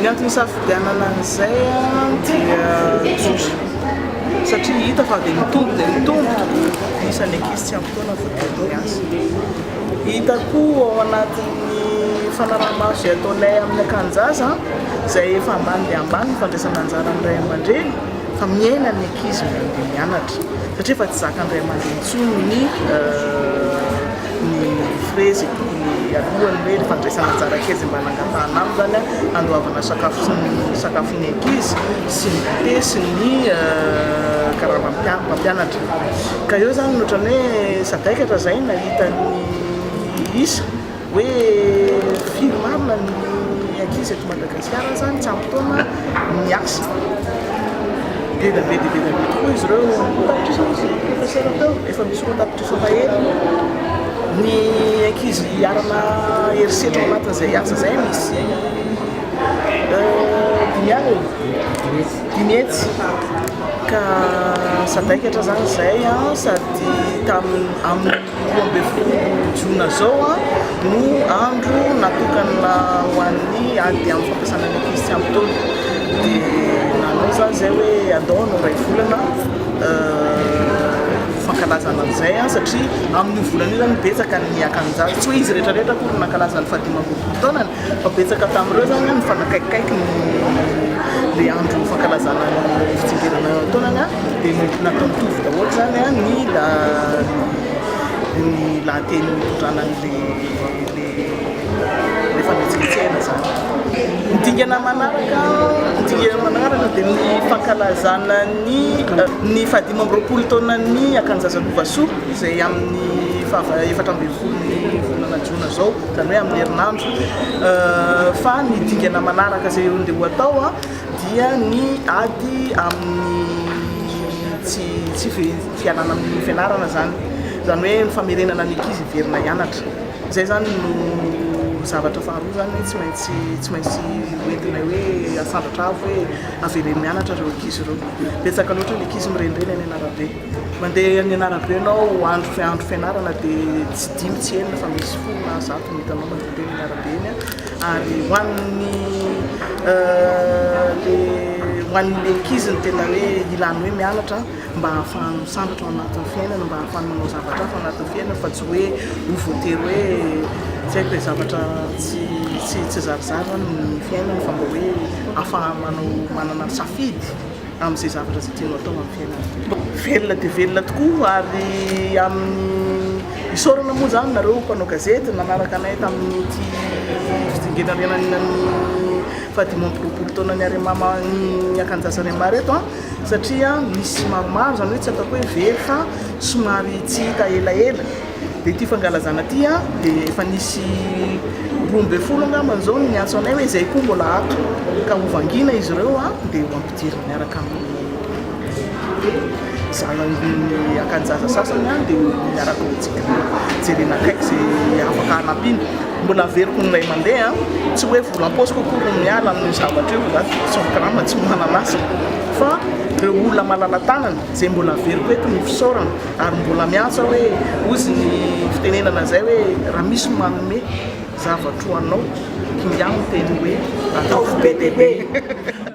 Ny antony isafidianana an'izay dia satria hita fa dia mitombo dia mitombo tokoa ny isan'ny ankizy tsy ampy taona vao tonga amin'ny asa. Hita koa ao anatin'ny fanaraha-maso izay ataonay amin'ny akanjaza izay efa ambany dia ambany ny fandraisana anjara amin'ny ray aman-dreny fa miaina ny ankizy mianatra satria efa tsy zakan'ny ray aman-dreny intsony ny ny frezy tokony alohan'ny hoe ny fandraisana anjara kely izay mba nangatahana aminy izany handoavana sakafo sy ny sakafo ny ankizy sy ny goûter sy ny karama mpampianatra ka eo izany no ohatran'ny hoe sadaikatra izay nahita ny isa hoe firy marina ny ankizy eto Madagasikara izany tsy ampy taona miasa dia be dia be tokoa izy ireo roa tapitrisa hoy izy professeur teo efa misy roa tapitrisa Fampalahelo ny ankizy hiarana herisetra ao anatin'izay asa izay misy dimy alina e, dimy hetsy ka sadaikatra izany izay a, sady tamin'ny amin'ny roa ambin'ny folo jona izao a no andro natokana ho an'ny ady amin'ny fampiasana ny ankizy tsy ampy taona dia nanao izany izay hoe andao hanao iray volana fankalazana an'izay satria amin'io volana io izany betsaka ny akanjato, tsy hoe izy rehetra rehetra akory no nankalaza ny fahadimy amby roapolo taonany fa betsaka tamin'ireo izany no nifanakaikikaiky ilay andro fankalazana ny fitsingerenana taonany dia natao mitovy daholo izany ny lahateny nitondrana an'ilay Efa notsintsihina izany. Ny dingana manaraka, ny dingana manaraka dia ny fankalazana ny ny fahadimy amby roapolo taonan'ny Akanjazalovasoa izay amin'ny faha efatra ambin'ny folon'ny volana jona izao, izany hoe amin'ny herinandro. Fa ny dingana manaraka izay andeha ho atao dia ny ady amin'ny tsy tsy fialana amin'ny fianarana izany, izany hoe ny famerenana ny ankizy hiverina hianatra. Izay izany no zavatra faharoa izany hoe tsy maintsy tsy maintsy hoentinay hoe asandratra avo hoe aveleno mianatra ireo ankizy ireo. Betsaka loatra ny ankizy mirenireny any an'arabe. Mandeha any an'arabe ianao andro andro fianarana dia tsy dimy tsy enina fa misy folo na zato no hitanao mandeha teny an'arabe eny ary ho an'ny le ho an'ny le ankizy ny tena hoe ilàny hoe mianatra mba hahafahany misambatra ao anatin'ny fiainana, mba hahafahany manao zavatra hafa ao anatin'ny fiainana fa tsy hoe ho voatery hoe tsy haiko e, zavatra tsy tsy tsy zarizary zany ny fiainana fa mba hoe hahafahany manao manana safidy amin'izay zavatra izay tiany atao amin'ny fiainana. Velona dia velona tokoa ary amin'ny isaorana moa izany nareo mpanao gazety nanaraka anay tamin'ity fitsingerenan'ny fahadimy amby roapolo taonan'ny Arema ny akanjazan'ny Arema reto a! satria misy maromaro izany hoe tsy ataoko hoe very fa somary tsy hita elaela dia ity fangalazana ity a dia efa nisy roa ambin'ny folo angamba izao ny niantso anay hoe izay koa mbola ato ka ho vangina izy ireo a dia ho ampidirina miaraka amin'ny zanany akanjaza sasany a dia miaraka ho jerena akaiky izay afaka hanampiana Mbola averiko ny iray mandeha an! Tsy hoe vola am-paosiko akory no miala amin'io zavatra io, za tsy mikarama, tsy manan'asa, fa ireo olona malala-tanana izay mbola averiko eto ny fisaorana ary mbola miantsa hoe ozy ny fitenenana izay hoe raha misy ny manome zavatra ho anao, kingà ny teny hoe ataovy be dia be!